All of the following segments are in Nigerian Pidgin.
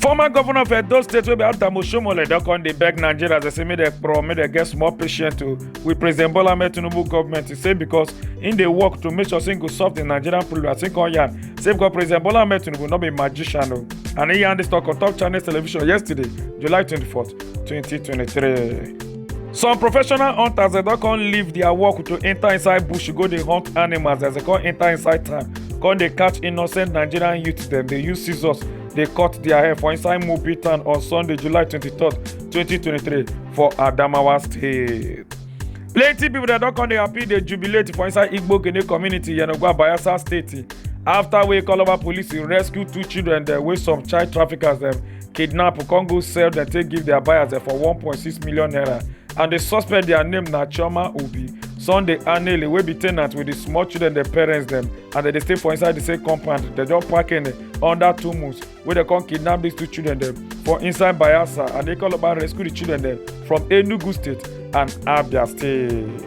former governor of edo state wey be adamu shomole don come dey beg nigerians dey say make dem pro make dem get small patience to with president bola ahmed tinubu government e say because im dey work to make sure say im go solve the nigerian problem as im come yarn say because president bola ahmed tinubu no be magician o and im yarn dis talk on top channels television yesterday july twenty-fourth twenty twenty-three. some professional hunters dem don come leave their work to enter inside bush go dey hunt animals as dem come enter inside town come dey catch innocent nigerian youths dem dey use scissors dey cut their hair for inside mobi town on sunday july 23 2023 for adamawa state plenty pipo dem don come dey happy dey jubilate for inside igbo gene community yenogwa bayelsa state afta wey calabar police rescue two children dem wey some child traffickers dem kidnap come go sell dem take give their buyers dem for 1.6 million naira and the suspect their name na chioma obi sunday anele wey be ten ant with the small children dem parents dem and dem dey stay for inside the same compound dem just park in under two months wey dem come kidnap these two children dem for inside bayelsa and they call up and rescue the children dem from enugu state and abia state.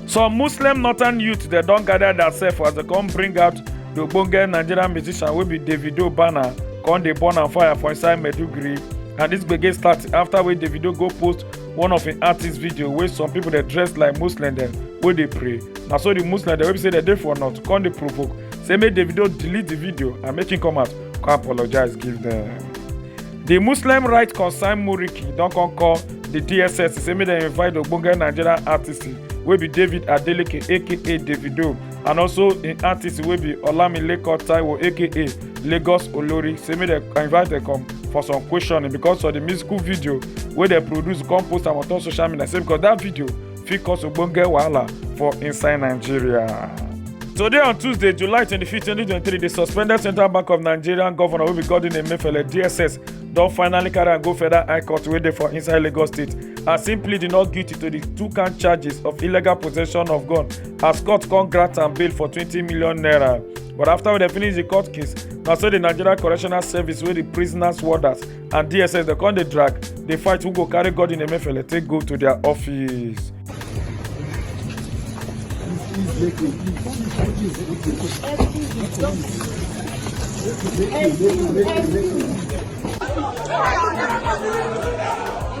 some muslim northern youth dem don gather theirself as dem come bring out the ogbonge nigerian musician wey be davido banner come dey burn am fire for inside maiduguri and dis gbege start after wey davido go post one of im artist video wey some people dey dress like muslim dem wey dey pray na so the muslim dem wey be say dem dey for north come dey provoke say make davido delete the video and make him come out come apologize give dem. di muslim rights concern muriki don come call di dss say make dem invite ogbonge nigerian artist wey be david adeleke aka davido and also im artist wey be olamileko taiwo aka lagos olori say make dem invite dem come for some questioning because of di musical video wey dem produce come post am on top social media say because dat video fit cause ogbonge wahala for inside nigeria. Today on Tuesday, July 25, 2023, the suspended Central Bank of Nigerian Governor will be Godwin Emefiele, DSS, don finally carry am go federal high court wey dey for inside lagos state as im plead not guilty to di two count charges of illegal possession of gun as court come grant am bail for twenty million naira but after we dey finish di court case na so di nigeria correctional service wey di prisoners warders and dss dem come dey drag dey fight who go carry godwin emefiele take go to their office. Thank you.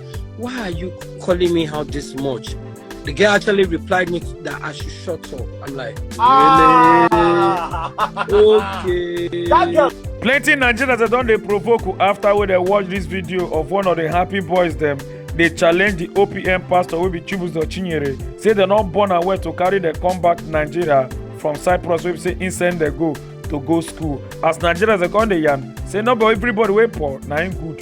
Why are you calling me out this much? The girl actually replied me that I should shut up. I'm like, ah. really? okay. That girl. Plenty Nigerians that don't they provoke after when they watch this video of one of the happy boys them dey challenge di opm pastor wey be chibuzo chinyere say dem no born am well to carry dem come back nigeria from cyprus wey be say im send dem go to go school as nigerians dey come dey yarn say no be everybody wey poor na im good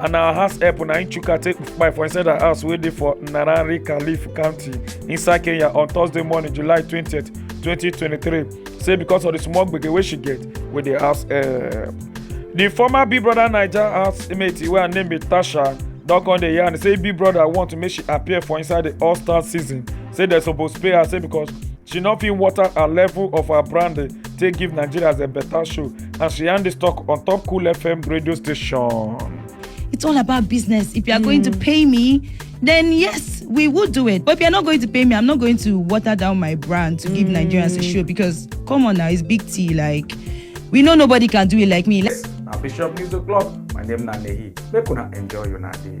and our house help na im chuka take kpai for inside her house wey dey for narari calif county inside kenya on thursday morning july twenty twenty twenty three say because of the small gbege wey she get with the house help. the former big brother naija housemate wey her name be tasha don come dey yarn say big brother want make she appear for inside the all star season say dem suppose pay her say because she no fit water her level of her branding take give nigerians a better show as we yarn this talk on top Cool FM radio station. It's all about business. If you are going to pay me, then yes, we would do it. But if you're not going to pay me, I'm not going to water down my brand to give Nigerians a show because come on now, it's big T. Like we know nobody can do it like me. Let's Now Bishop News O'Clock, my name na Nehi. Make una enjoy your day.